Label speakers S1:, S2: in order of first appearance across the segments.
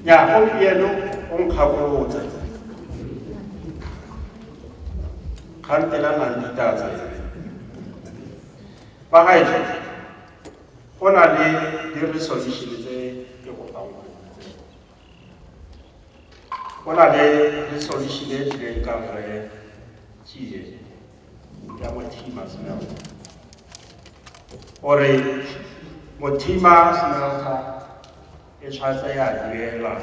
S1: ya gompieno o nkgakolotse kgantela nang ditatsa ba gaetsho go na le di-resolution tse ke kopang go na le resolution e tlileng ka rre tsie ya mothima smelter gore mothima smelter e tshwanetse ya duela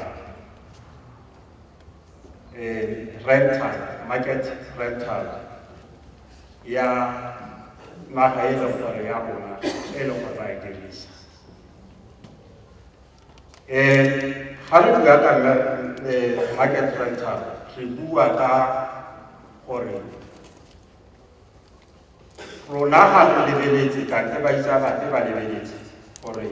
S1: um rental market rental ya naga e leng gore ya rona e leng gore ra e dirisa Eh, ga re bua ka eh, market rental re bua ka gore rona ga re lebeletse kante ba itsa bape ba lebeletse gore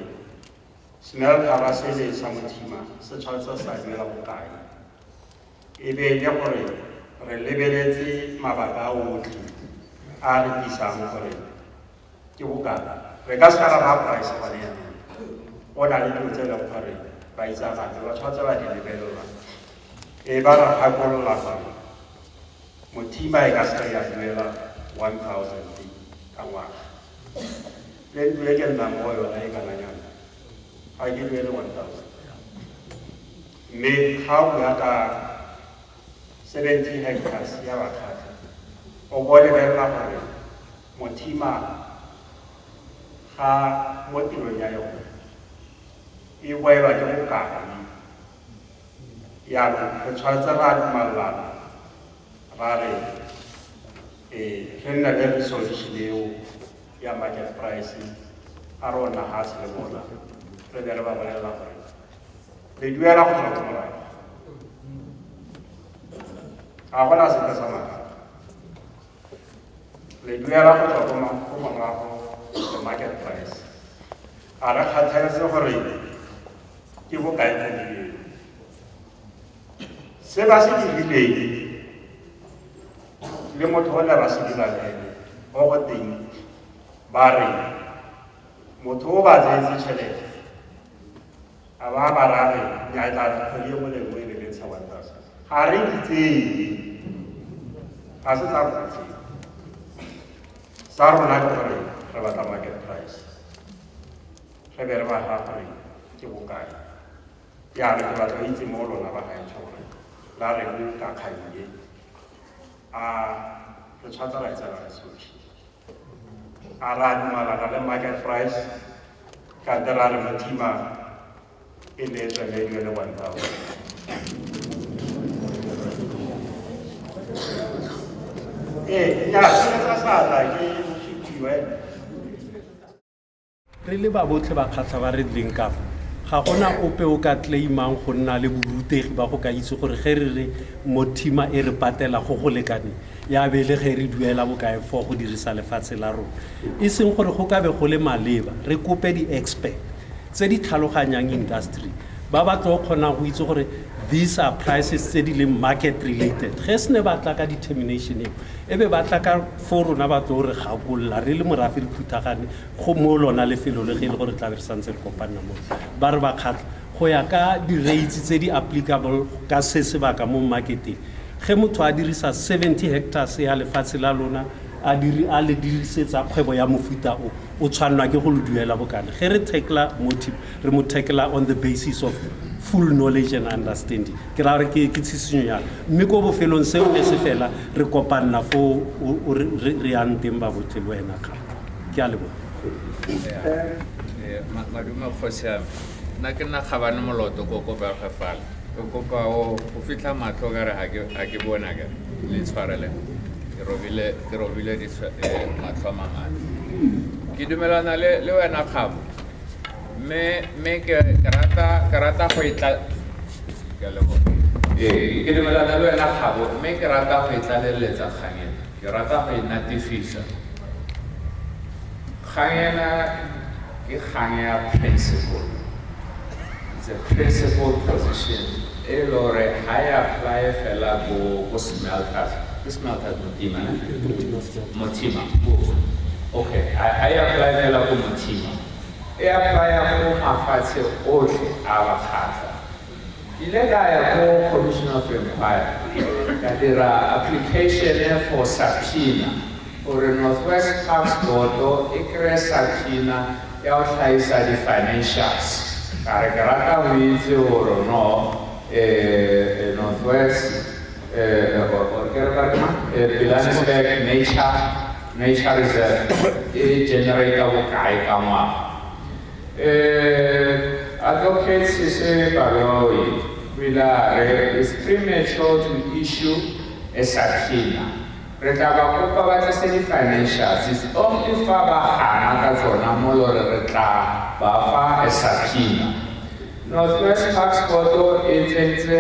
S1: smell ga ba sele sa mothima se tshwanetse sa duela bokae e be le gore re lebeletse mabaka a otlhe a re tlisang gore ke bokana re ka seka ra ba price gone yanong o na le dilo tse e leng gore ba itsagatse ba tshwanetse ba di lebelelwa e ba ra gakolola gore mothima e ka seka ya duela one thousand ka ngwaga le ntlo e ke nnang mo yona e kana yana ga ke duele one thousand mme ga o bua ka seventy hectares ya bakgatlha o bo lebelela gore Mothima ga mo tirong ya yone e boelwa ke bokana yaanong re tshwanetse ra dumalelana ra re um re nne le resolution eo ya market price a rona ga se le bona re be re ba bolelela gore re duela go tswa morago ga gona sepe sa maaka le duela go tswa ko morago the market price a re kgathaletse gore ke bokae mo bileng se ba se dirileng le motho o le ba se dirang ene o go teng ba re motho o ba tseetse tšhelete a ba ba rare ya e tla kgwedi e mole nngwe e be ntsha one thousand ga re di tseye ga se tsa go tseye sa rona ke gore re batla market price re be re ba ga gore ke bokae ya re ke batla itse mo lona ba gaetsho gore la re ka kganye a re tshwatsa ra e tsela re sotlhe a ra dumalana le market price ka nte ra re motima e ne e tswelediwe le one thousand ee
S2: nyaa seetsa sa tla ke re le ba botlhe ba kgatlha ba re leng kafa ga gona ope o ka claimang go nna le borutegi ba go ka itse gore ge re re mothima e re patela go go lekane ya be le ge re duela bokae fo go dirisa lefatshe la rona e seng gore go ka be go le maleba re kope di-expert tse di tlhaloganyang industry ba ba tlo kgonang go itse gore these are prices tse di leng market related ge se ne ba tla ka determination eo e be ba tla ka fo rona ba tlo re gakolola re le morafe re phuthagane go mo lona lefelo le ge e le gore tlabe re santse re kopanna mo ba re bakgatlha go ya ka di-rates tse di applicable ka se sebaka mo marketeng ge motho a dirisa 70 hectares ya lefatshe la lona a diri a le dirisetsa kgwebo ya mofuta o o tshwanelwa ke go lo duela bokana ge re tackla motive re mo tackla on the basis of full knowledge and understanding ke ra gore ke ke tshisinyo ya mme ko bofelong seo ne se fela re kopanna foo o- o- re re- re yang teng ba botlhe le wena Kgang. ke a leboga
S3: madume kgosiame nna ke nna kgabane moloto ko ko berge fala o kopa o fitlha matlho ka re ga ke bona ka le tshwarele ke robile eh, matlho a mamane ke dumelana le wena kgabo mme ke rata go e ee, ke dumelana le wena kgabo mme ke rata go e tlaleletsa kgangeng Ke rata go e natefisa. Kgang ena ke kgang ya principle. It's a principle position e le gore ga e apply fela ko ko smelters. Ke smelters Motima, ne? Motima. Okay, ga e apply fela ko Motima. E apply go mafatshe otlhe a bakgatlha. Ke ile ka ya ko Commission of Inquiry ka dira application for subpoena gore North West Tax Board-o e kry-e subpoena ya go tlhaisa di-financials ka re ke rata go itse gore no eh, North West eh, or- or ke re ba re mang? Eh, Pilanesberg Nature Nature Reserve e generator bokae ka ngwaga Uh, Advocate Sise Baroi Wilare is premature to issue a subpoena. Re tla ba kopa ba tlise di-financials. It's only fa ba gana ka tsona mo lore re tla ba fa a subpoena. Northwest Parks Board e tsentse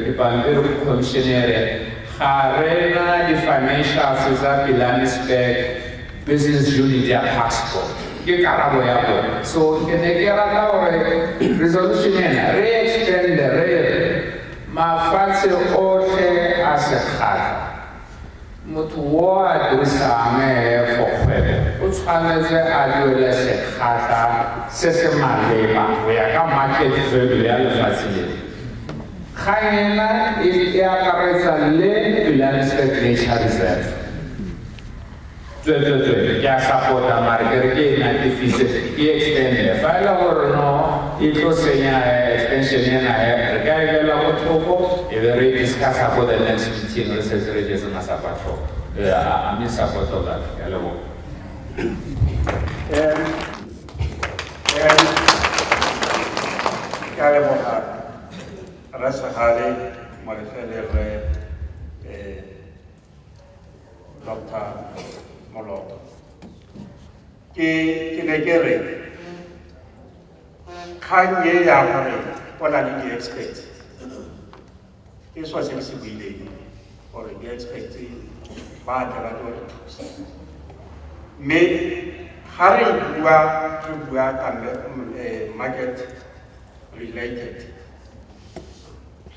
S3: dipampiri go commissionere ga re na di-financials tsa Pilanesberg business unit ya passport ke karabo ya bone so ke ne ke rata gore resolution ena re extende re re mafatshe otlhe a sekgala motho wo a dirisang ee for kgwebo o tshwanetse a duele sekgata se se maleba go ya ka market value ya lefatshe le kgang ena e akaretsa le united nature reserve Tsweetsweetswee, ke a support-a mare ke re ke e natefise, ke e extend-e. Fa e le gore no e tlo senya extension ena he, re ka e beela ko thoko e be re e discuss-a ko the next meeting re setse re jetse masapo a tlhogo. I'm in support of that. Ke a leboga. Ke a leboga
S1: Rra Segale, Molefele, Rre dr moloto ke ke ne ke re kgang e ya gore o na le di-experts ke swa se ke se buileng gore di-experts ba tle ba tlo re thusa mme ga re bua re bua kambe eh, market related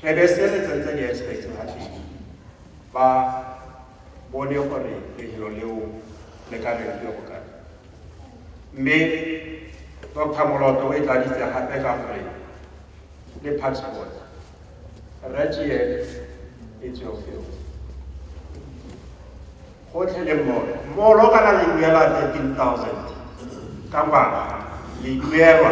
S1: re be se re tsentse di-experts ga teng ba bone gore lefelo leo le ka be le go kae mme dr moloto o e tladitse gape ka gore le passport rajie e tseo gotlhe le molo molo kana le duela 13000 ka ngwaga le duelwa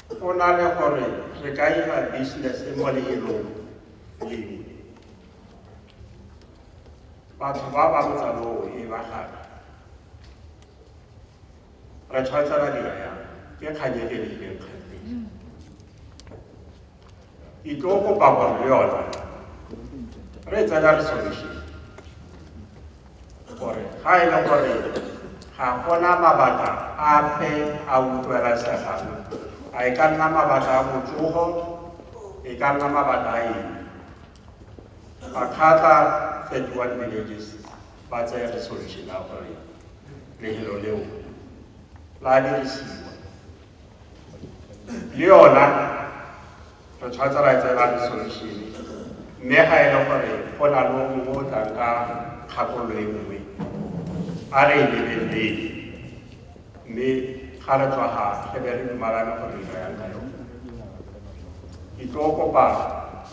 S1: Go na le gore re ka ira business mo leelong lengwe, batho ba ba botsaloo e ba gape re tshwanetse ra dira yang ke kganyeke le ileng kgante ke tlo kopa gore le yone re tsena resolution gore ga e le gore ga gona mabaka ape a utlwelasegang a e ka nna mabaka a botsogo e ka nna mabaka a eng makgata 31 villages ba tseye resolution ya gore lehelo leo la dirisiwa le yona re tshwanetse ra tsela resolution mme ga e le gore go na le o mo o tlang ka kgakololo e nngwe a re e lebelele mme ga re tswa ga re be re dumalane gore re ka yang ka yone ke tlo kopa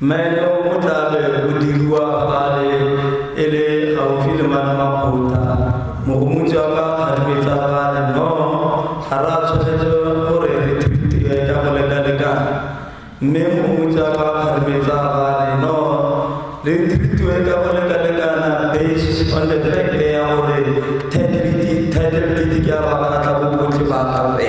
S4: Maeneo o tla be o diriwa fale e le gaufi le mana makgotha mogomotsi wa ka kgatlhoetsa fale no ga ra tshwanetse gore re thute ka go lekalekana mme mogomotsi wa ka kgatlhoetsa fale no re thutwe ka go lekalekana based on the fact ya gore thatelete ke ya bakgatlha bobotlhe ba gape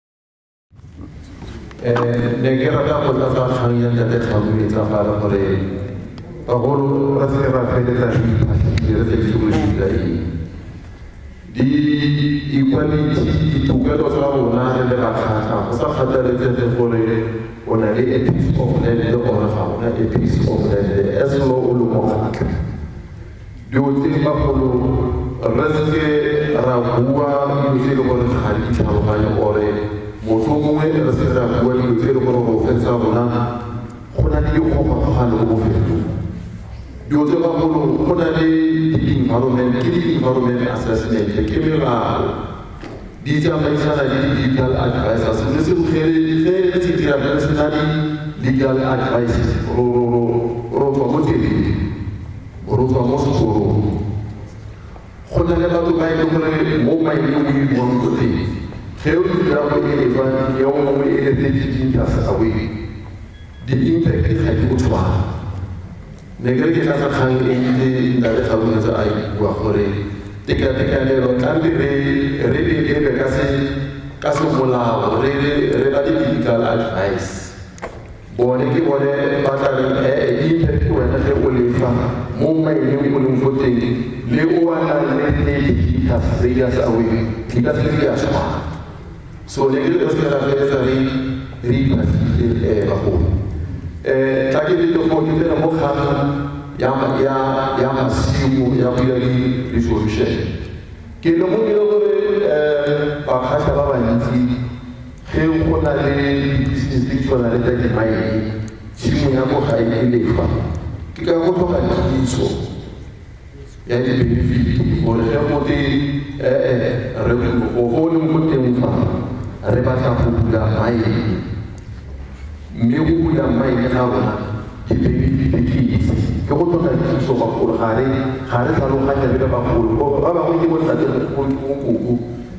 S5: Eh, ne ke rata go tlatsa kgang ya ntate tlhamo e tsa gare gore bagolo re se ra feletsa re iphatlhile re sa itse gore di ka eng di equality ditokelo tsa rona re le bakgatlha go sa kgathaletsege gore o na le a piece of land or ga ona a piece of land as lo o le mokgatlha Dilo tse di bagolo re seke ra bua dilo tse e le gore ga di tlhaloganye ore motlhomongwe re seke ra bua dilo tse e le gore go fetsa rona go na le dikgogakgogano mo bofelong. Dilo tse bagolo go na le di-environment, ke di-environment assessment, ke melao di tsamaisana le di-legal advisors mme se bogeledi ge re se dira re se na di-legal advices ro tswa mo tseleng ro tswa mo sekorong go na le batho ba e leng gore mo maele o e buang ko teng ge o dira go e e tswa ya o mongwe e le thirty meters away di-impact ga di o tshwana Ne ke re ke tlatsa kgang e bile Ntate Kgaboletsa a e bua gore tekatekanelo tlambe re re e lebe ka se ka semolao re re ba legal advice bone ke bone ba tla re ee e iphephe wena ge o lefa mo maineng o leng fo teng le o a nang le thirty meters radius away di ka se di a tshwana So ne ke le botsela fela re re iphasile eh bagolo. Eh tla ke le go dipela mo kgang ya ya ya masimo ya buya le resolution. Ke le mo dilo gore eh ba khasa ba bantsi ge go na le business di tshwana le tsa dimaene tshimo ya go ga e lefa ke ka go tlhoka kitso ya dibenefiti gore ge gote ee re go go le mo teng fa re batla go bula maele mme go bula maele ga rona dibenefiti ke itse ke go tlhoka dithuso bagolo ga re tlhaloganya le ba bagolo ba bangwe ke botsatse koko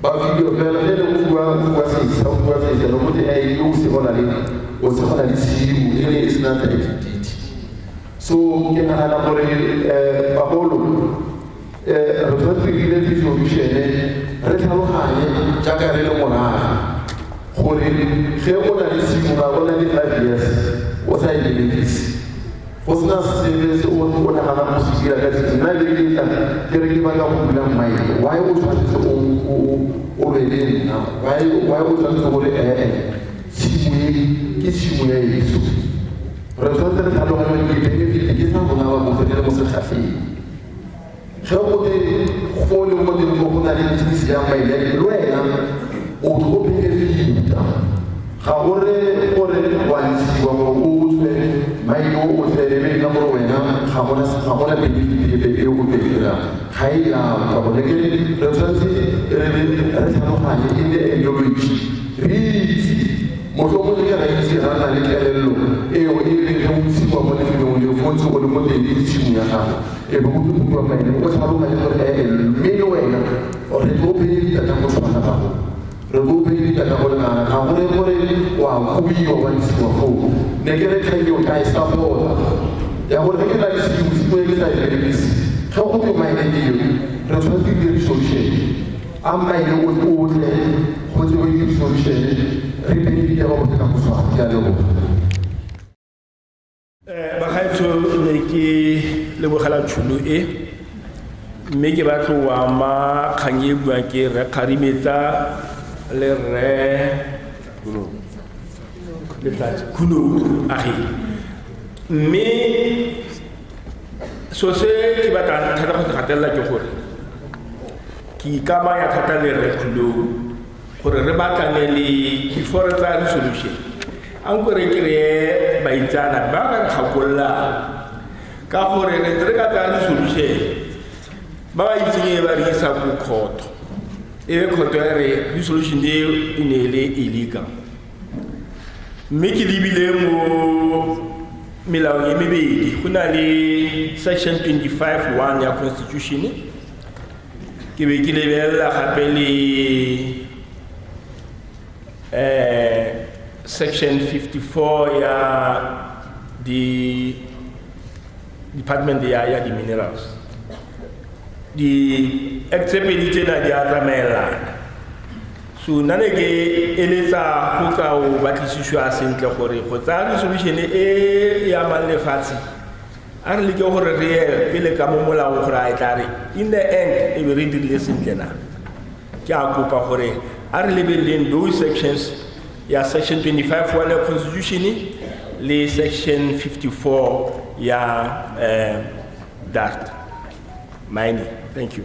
S5: Bafilwe fela ge le o bua o bua sesa o bua sesa no mote a ile o se gona le o se gona le tshimo e le e sena ta identity so ke nagana gore um bagolo um re tshwanetse re dire resolution-e re tlhaloganye jaaka re le moraga gore ge o na le tshimo ga o na le five years o sa e berekise Go sena sepe se o o naganang go se dira ka tse nna le letla ke re ke batla go bula mmaeke why o tshwanetse o o be le nna why why o tshwanetse gore ee tshimo e ke tshimo ya yeso re tshwanetse re tlhaloganye ke benefit ke sa rona ba bofele mo setlhafeng Ge go le go le modimo go na le tshisi ya mailele le wena o ke o pheke fita ga go re gore wa ntshiwa gore o tswe maile o o tlelebe nna gore wena ga gona ga gona benefitebe e o ke dira ga e ya kwa bone ke re tshwanetse re re re tlhaloganye e le ideology re itse motho mo le ra itse ra na le kelello eo e re re ntshiwa mo lefelong le fo ntse go le mo teng le tshimo ya gago e bo go bua ka ene o sa bo ka le gore e mme le wena o re go be di tata go tshwana ba go re go be di tata go na ga go re gore wa go bi wa di tswa go ne ke re ka yo ka e sa bona ya go re ke la se di tswe ke sa e di se go go be mai di yo re tswa di di solution a mai le o o le go di di solution re be di tata go tshwana ya le go
S4: eh, bagaetsho ne ke lebogela tšhono e mme ke batlo wa ma kgang e buang ke re kgarimetsa le rre letsatsi khuno age mme so se ke batla thata go se gatelela ke gore ke ikamanya thata le rre khulou gore re batlane le before tsa resolution a nko re kry-e baitsana ba ka re gakololang ka gore re re ka tsaya resolution ba ba itseng e ba re isa ko kgotho e be kgotho ya re resolution eo e ne e le illegal mme ke lebile mo melaong e mebedi go na le section 25 1 ya constitution ke be ke lebelela gape le um section 54 ya di department ya ya di-minerals di-act tse pedi tsena di a tsamaelana so nna ne ke eletsa go ka o batlisiswa sentle gore go tsaya resolution e e amang lefatshe a re leke gore re ye pele ka mo molaong gore a e tla re in the end e be re dirile sentle na ke a kopa gore a re lebeleleng those sections ya section 25 wa le constitution le section 54 ya eh, dart mining thank you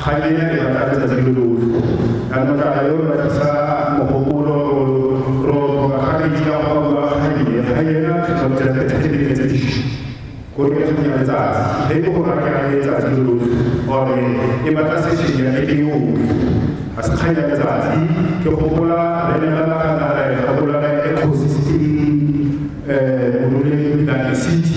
S6: Kganyeng e batla letsatsi lo lotlhe ka notla yo re tlisa mogopolo ro tlhoka ga metsi ka go bua kganyeng ga yena tlhotlho tsa thethelele tse di go re ga ya letsatsi ge go go rakela letsatsi lo lotlhe gore e batla sešeng ya ke yo a se kganya letsatsi ke go gola re ne ra kana re ga gola re kgosi eh mo le ka city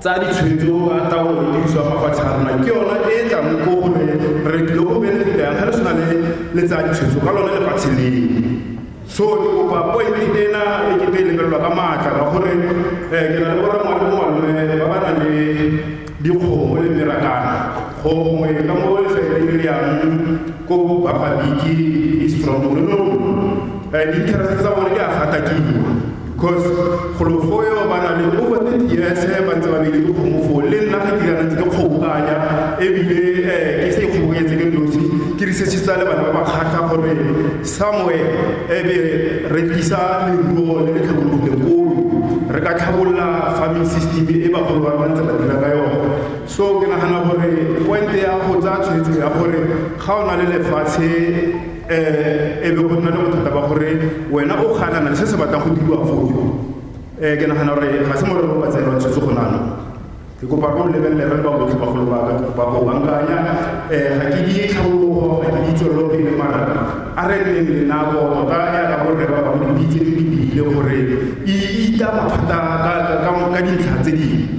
S6: tsa ditshwetso a taolo le tiriso ya mafatshe a rona ke yona e e tlang ko gore re tlile go benefita yang ga re tshwana le le tsa ditshwetso ka lone lefatshe leo so ke kopa point ena e ke be lebelelwa ka maatla ka gore um ke na le borra ngwane mo malome ba ba nang le dikgomo le merakana gongwe ka mo lefaeleng le yang ko bafabiki strong re no um di-interest tsa bone di a gatakiwa Cause golo fo yo ba na le over 30 years eh, ba ntse ba bile ke kgomo fo le nna ga ke kana ntse ke kgobokanya ebile eh, ke se ikgobokanyetse ke nosi ke researchitsa le bana ba ba kgatlha gore somewhere ebe re tlisa leruo le le tlhabologileng koo re ka tlhabolola farming system e bagolo ba rona ntse ba dira ka yone so ke nagana gore pointe ya go tsaya tshwetso ya gore ga o na le lefatshe um e be go nna le bothata ba gore wena o ganana le se se batlang go diriwa foo um ke nagana gore ga se morero ba tseelwa tshwetse go nano ke kopa go lebelele re ba botlhe bagolo ba ka ba go bankanya um ga ke di tlhabologo ga ke di tswelelo pele mara a re leng le nako tota ya ka borre ba ba di tse di lebile gore e ita mathata ka dintlha tse dingwe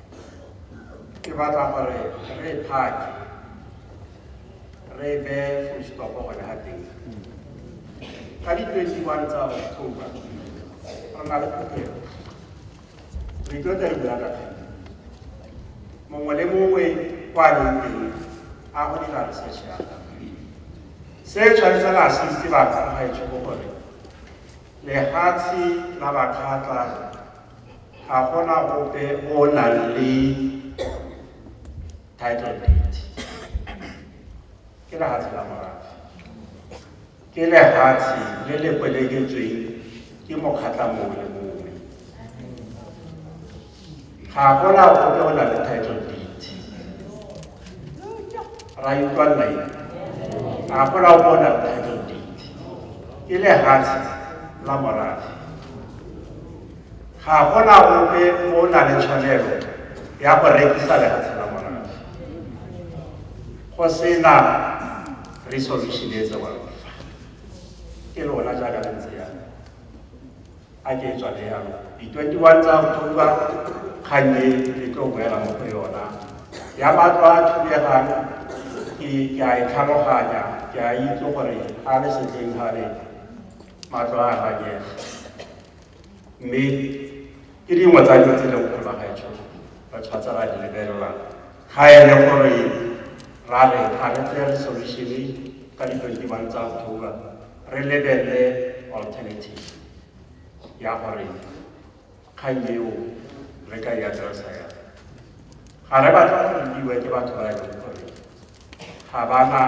S1: ke batla gore re e phake re e beye full stop gone ga teng ka di-twenty-one tsa october re na le phuthego re tlo tla e bula ka kgang mongwe le mongwe kwa leng teng a go dira research ya se tshwanetse la assiste batho ga e tsho gore lefatshe la bakgatla ga gona ope o o nang le title deed ke lehatshe la morafe ke lehatshe le le kweleketsweng ke mokgatla mongwe le mongwe ga gona ope o nang le title deed ra itlwalela eng a gola o bona title date ke lehatshe la morafe ga gona ope o na le tshwanelo ya go rekisa lehatshe la morafe go sena resolution e tsewang fa ke lona jaaka le ntse yana a ke tswa le yalo di-twenty-one tsa october kgang e e tlo boela mo go yona ya batlo a thubegang ke a e tlhaloganya ke a itse gore a le setleng ga le matlo a ganyega mme ke dingwe tsa dilo tse leng gore bagaetsho ba tshwatsa ra di lebelela ga e le gore ra re ga re tseye resolution ka di-twenty-one tsa october re lebelele alternative ya gore kgang eo re ka e atlelasa ya ga re batla go rutiwe ke batho ba e leng gore ga ba na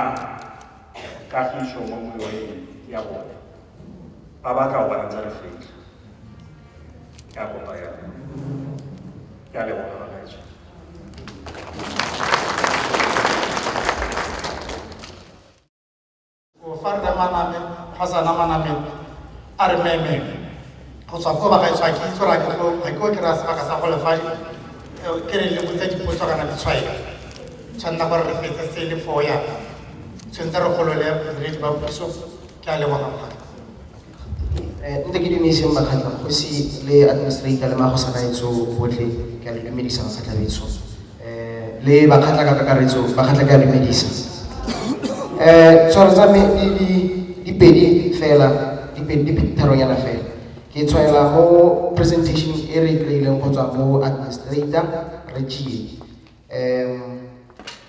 S1: kagiso mo moyeng ya bone ba ba ka bona tsa lefetlha ya kopa ya ya leboga bagaetsho
S7: fa rre maname ga sana maname a re meme go tswa ko bagaetswa ke itse ra ke go ga ke o kry-a sebaka sa go lefadi ke re lebotse dipotso kana ditshwaelo tshwanela gore re fetse se le foya tshwanetse re golole bodiredi ba puso ke a leboga
S8: ntse ke dumedise makgatla kgosi le administrator le magosa kaetso botlhe ke a le dumedisa makgatla betso um le bakgatla ka kakaretso bakgatla ke a dumedisa um tshwaro tsa me di pedi fela di pedi tharonyana fela ke tshwaela mo presentation e re kry-ileng go tswa mo administrator re tšie um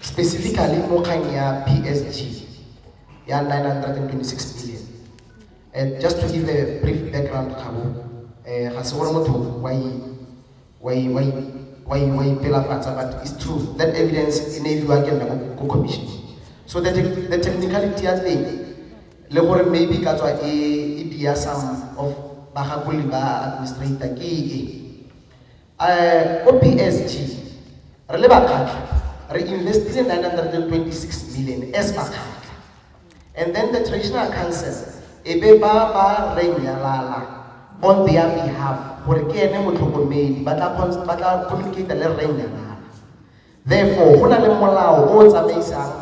S8: specifically mo kgang ya psg ya 926 million And just to give a brief background, Kabo, eh, ga se gore motho wa i- wa i- wa i- wa i- wa ipelafatsa, but it's true. That evidence e ne e fiwa ke nna ko- ko commission. So the, tec- the technicality ya teng, le gore maybe ka tswa e, e dia some of bagakoli ba administrator ke e. Eh, ko PSG, re le bakgatlha, re investile 926 million as bakgatlha. And then the traditional council e be ba ba renyalala on their behalf gore ke ene motlhokomedi ba tla communicate le renyalala therefore go na le molao o o tsamaisang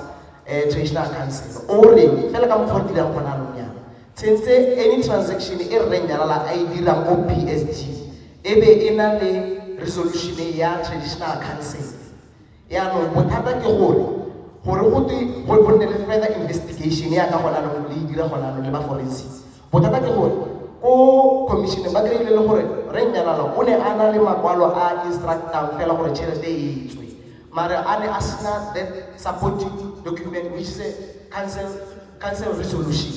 S8: um traditional council o reng fela ka mokgwa o dirang gona anong yana tshentse any transaction e rreng yalala a e dirang ko p s g e be e na le resolution ya traditional council Yaanong bothata ke gore gore go twe go go nne le further investigation ya ka gona anong le e dira gona anong le ba forensic bothata ke gore ko commissioneng ba kry-ile le gore re nnyalala o ne a na le makwalo a instructang fela gore tšhelete e tswe mare a ne a sena that supporting document which is a council, council resolution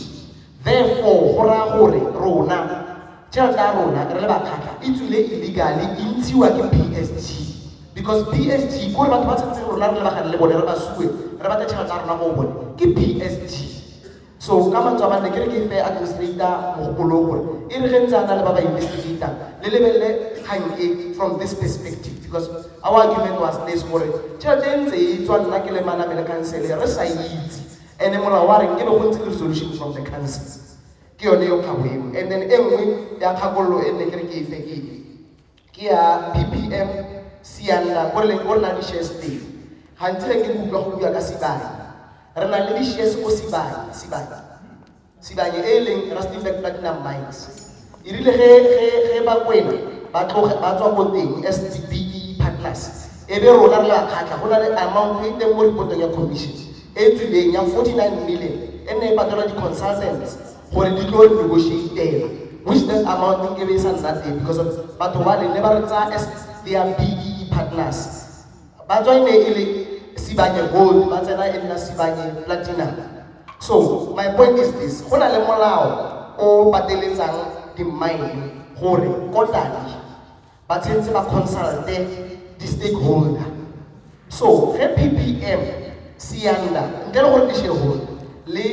S8: Therefore, go raya gore rona, tšhelete ya rona re le bakgatlha e tswile illegally e ntshiwa ke PSG because PSG kore batho ba tshwantseng rona re lebagane le bone re ba sue re batle tšhelete ya rona go bone ke PSG so ka mantswe a manne ke re ke fair administrator mogopolo gore e re ge ntse a na le ba ba investigator le lebelele kgang e from this perspective because our argument was this gore tšhelete e ntse e tswa nna ke le manamele councele re sa itse And then molao wa reng e be go ntse le resolution from the council ke yone yo kgabo eo and then e nngwe ya kgakololo e nne ke re ke efe ke e ke ya ppm sianda ko re ko re na di-shares teng gantsi ge ke utlwa go bua ka sibane re na le di-shares ko sibane sibane Sibanye e e leng Rustenburg Platinum Mines e rile ge ge ba kwena ba tloge ba tswa ko teng SDPE partners e be rona re le bakgatlha go na le amount e teng mo reportong ya commission e tswileng ya 49 million e nne e patelwa di-consultants gore di tlo negotiatela which that amount e nkebe e sa nna teng because of batho ba le ne ba re tsaya as their BEE partners ba tswa e ne e le sibanye gold ba tsena e nna sibanye platinum so my point is this go na le molao o pateletsang di-mine gore kotane ba tshwanetse ba consulte di-stakeholder so ge ppm sianda ntle le gore ke shareholder le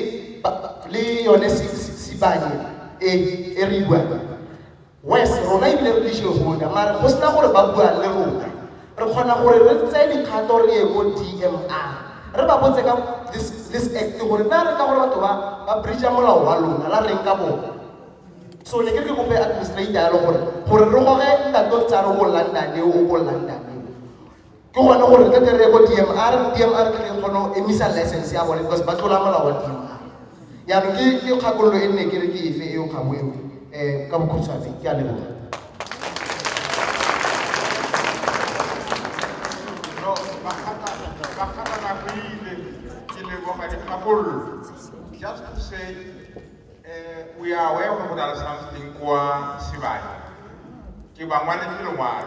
S8: le yone sibanye e e re buang wes rona ebile re le jehoda mare go sena gore ba bua le rona re kgona gore re tseye dikgato re ye ko dmr re ba botse ka this act gore na re ka gore batho ba ba breacha molao wa lona la reng ka bone so ne ke re ke kope administrator yalo gore gore re goge ntatong tsa re o ko londone o ko londone ke gone gore ka kere ko dmr dmr ke leng kgone go emisa license ya bone because ba tlola molao wa dmr jaanong ke ke kgakololo e nne ke re ke efe eo kgabo eo um eh, ka bokhutshwane ke a leboga Just
S9: to say, uh, we are aware of something qua Sivai. Kibangwani Kilomar.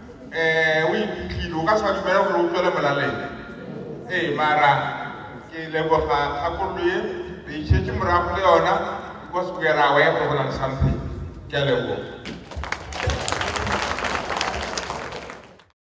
S9: eh o iphitlhile o ka sa dumela gore o tswele molaleng ee mara ke leboga kgakololo e re itšhetse morago le yona because we are aware go na le something ke a leboga